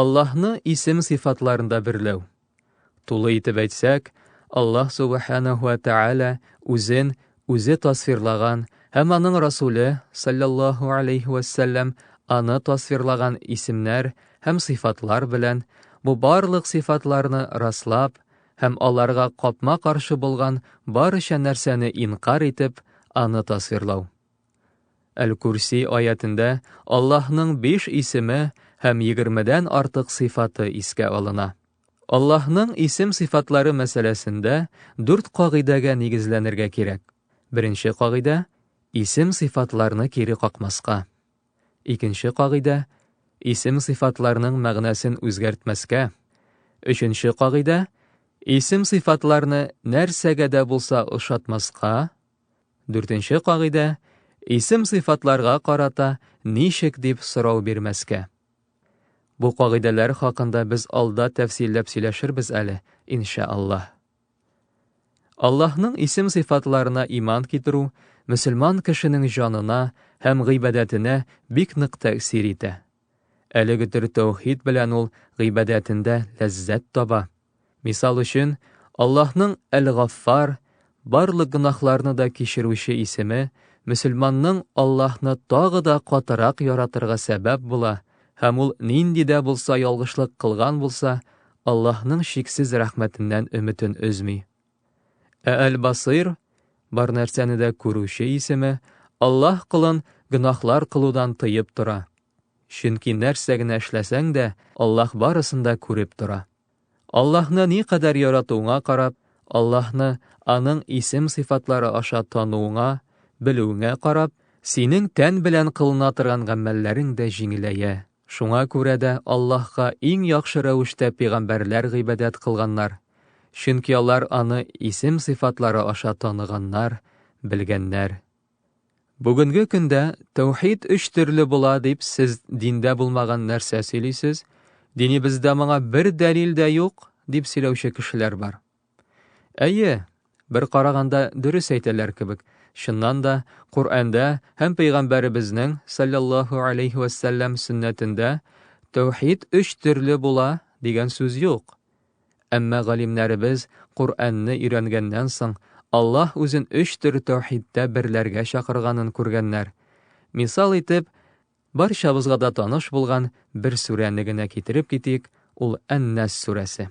Аллаһны исем-сыйфатларында берләү. Тулы итеп әйтсәк, Аллаһ субханаһу ва тааля үзен үзе тасвирлаган һәм аның Расуле саллаллаһу алейхи ва саллям аны тасвирлаган исемнәр һәм сыйфатлар белән бу барлык сыйфатларны раслап һәм аларга капма-каршы булган барча нәрсәне инкар итеп, аны тасвирлау. Әл-Курси аятендә Аллаһның биш исеме һәм егермедән артык сыйфаты искә алына. Аллаһның исем-сыйфатлары мәсьәләсендә дүрт кагыйдәгә нигезләнергә кирәк. Беренче кагыйдә, исем-сыйфатларны кире какмаска. Икенче кагыйдә, исем-сыйфатларның мәгънәсен үзгәртмәскә. Өченче кагыйдә, исем-сыйфатларны нәрсәгә дә булса ошатмаска. Дүртенче кагыйдә, исем-сыйфатларга карата ничек дип сорау бирмәскә. Бу кагыйдәләр хакында без алда тәфсилләп сөйләшербез әле, инша Аллаһ. Аллаһның исем-сыйфатларына иман китерү мөселман кешенең җанына һәм гыйбадәтенә бик нык тәэсир итә. Әлеге төр тәүхид белән ул гыйбадәтендә ләззәт таба. Мисал өчен, Аллаһның Әл-Гаффар, барлык гөнаһларны да кичерүче исеме мөселманның Аллаһны тагы да катырак яратырга сәбәп була һәм ул нинди дә булса ялгышлык кылган булса, Аллаһның чиксез рәхмәтеннән өметен өзми. Ә Әл-Басыйр, бар нәрсәне дә күрүче исеме, Аллаһ кылын гөнаһлар кылудан тыеп тора. Чөнки нәрсә генә эшләсәң дә, Аллаһ барысын да күреп тора. Аллаһны ни кадәр яратуыңа карап, Аллаһны аның исем-сыйфатлары аша тануыңа, белүеңә карап, синең тән белән кылына торган гамәлләрең дә җиңеләя. Шуңа күрә дә Аллаһка иң яхшы рәвештә пигамбәрләр гыйбадәт кылганнар, чөнки алар аны исем-сыйфатлары аша таныганнар, белгәннәр. Бүгенге көндә тәүхид өч төрле була дип сез диндә булмаган нәрсә сөйлисез, динебездә моңа бер дәлил дә юк, дип сөйләүче кешеләр бар. Әйе, бер караганда дөрес әйтәләр кебек. Чыннан да, Коръәндә һәм пәйгамбәребезнең саллаллаһу алейхи ва саллям сөннәтендә тәүхид өч төрле була дигән сүз юк. Әмма галимнәребез Коръәнне өйрәнгәннән соң Аллаһ үзен өч төр тәүхидтә берләргә чакырганын күргәннәр. Мисал итеп, барчабызга да таныш булган бер сүрәне генә китереп китик, ул Ән-Нас сүрәсе.